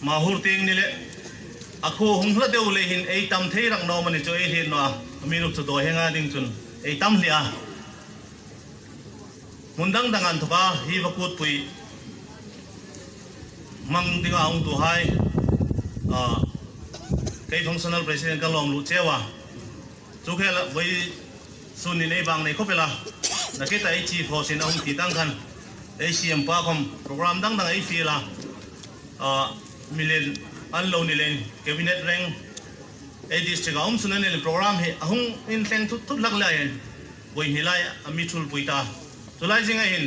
Mah hur ting ni leh a khu hung hla deuh leh in ei tam thei rang nawm a ni chu ei hliat nuah a a minuk chu duai he nga ding chun ei tam hliah a hmun dang dang an thawk a hi va kut pui hmang ding a ong tu hai a kei functional president ka lawm luh cheu a. Chu khel ah vawi sun in ei vang nei khawp ila naked ah ei chi phaw sin ahum ti tan khan ei siam pa khawm program dang dang ei fial a ah milen an lo ni lein cabinet reng ei district ah awm sun anin program hi ahung in thleng thut thut hlak le aiin vawi hni lai a mi thul pui ta chulai zing aiin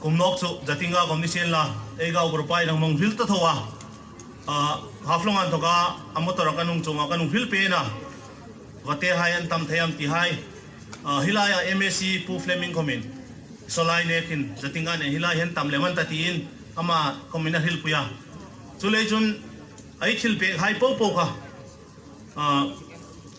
Kum nawk chu Jatinga Commission la Eigao group a inang mawng vil ta tho a. Haflawng an thawk a, a motor a ka nung chungah ka nung vil pen a, va te hai an tam thei ang ti hai. Hi laiah mac Pu Fleming khawmin Sawlai nekin Jatinga nen hi lai hian tam lem an ta tiin amah khawmin a hrilhpui a. Chulei chun a i thil pek hai pau pau kha.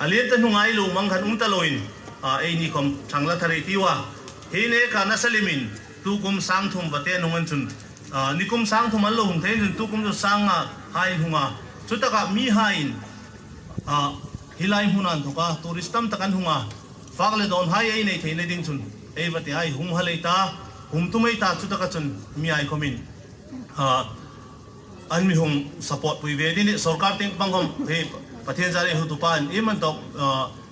A lian ta hnungai lum ang khan um ta lo in a ei nikhawm thang la tha rei tiu a. He in ei kha nasa lim in tu kum sang thum va te nung an chun. Nikum sang thum an lo hung theih in chun tu kum chu sang a ha in hung a. Chu tak ah mi ha in ah hi lai hmun ah an thawk a, tourist tam tak an hung a. Fak le dawn hai ei nei theih na ding chun ei va te ai hum ha lei ta, hum tu mai ta chu tak ah chun mi ai khawm in ah. An mihum support pui ve ding hi sorkar ting bang hawm hi Pathian zia rei hu tu pa in im an tawk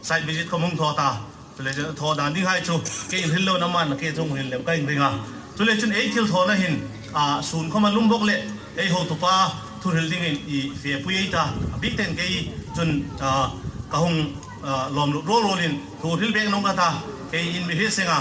site visit ka hmung thaw ta chule chuan thaw dan ding hai chu ke in ril lo na man ke chung ril lem ka in ring a chule chun ei thil thawna hin sun khawm a lum bawk leh ei ho tu pa thu ril ding in i fe pui ei ta a bik ten kei chun ka hung lawm lut rual rual in thu ril bek nung ka ta kei in mi hrilh seng a.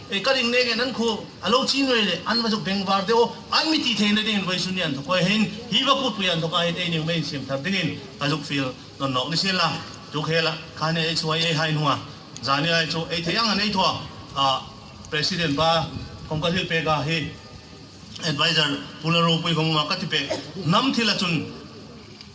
Ei ka ring leh nge nan khuh a lo ching rei le an va zuk beng var deuh aw an mitih thei na dingin vawisu nian thawk kawia hein hi va put puian thawk ahin ei neu mai insiam thar dingin ka zuk fil nawn nawh ni si la tu khel a khan e chu a ei hai hnung a zani lai chu ei thei ang an ei thua a president pa kawngka hlil pek a hi advisor pula ropui vawngawma ka ti pek hnam thil a chun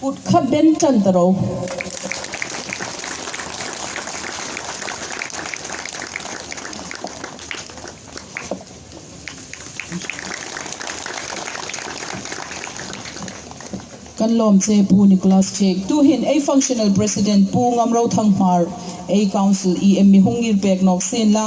Kut kha ben tan ta ro. Kan lawm che Pu Nicholas Chek tu hin ei Functional President Pu Ngamrothang Hmar, ei Council i em mi hung ngir pek nawk sin la,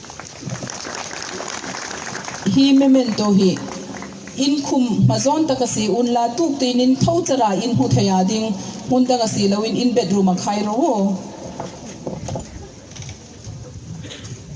Hi memento hi inkhum hma zawn tak a si, un la tuk tiin in tho chara in hmu thei a ding hmun dang a si lo in in bedroom a khai rawh.